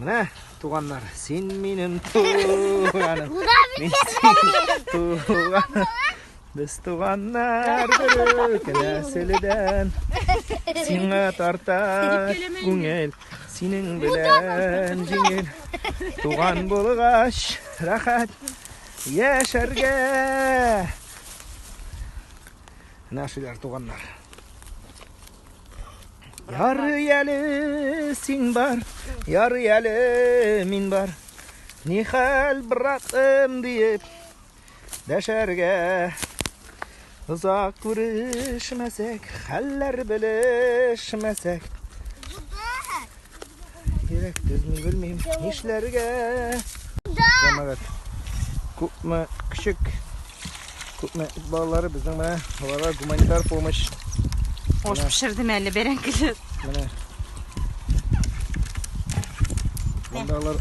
Менә, туганнар, син минем туганым. Мин синең туганым. Без туганнар бөрек нәселдән. Сиңа тарта күңел, синең белән җиңел. Туган булгач, рәхәт яшәргә. Менә шулар туганнар. Ярый әле син бар, ярый әле мин бар. Ни хәл, братым, диеп дәшәргә. Озак күрешмәсәк, хәлләр белешмәсәк. Кирәк төзми белмим. Нишләргә? Җәмәгать. Күпме кичек күпме эт балалары безнең менә аларга гуманитар помощь. Ош пешердем әле бәрәңгеле. Менә. Монда алар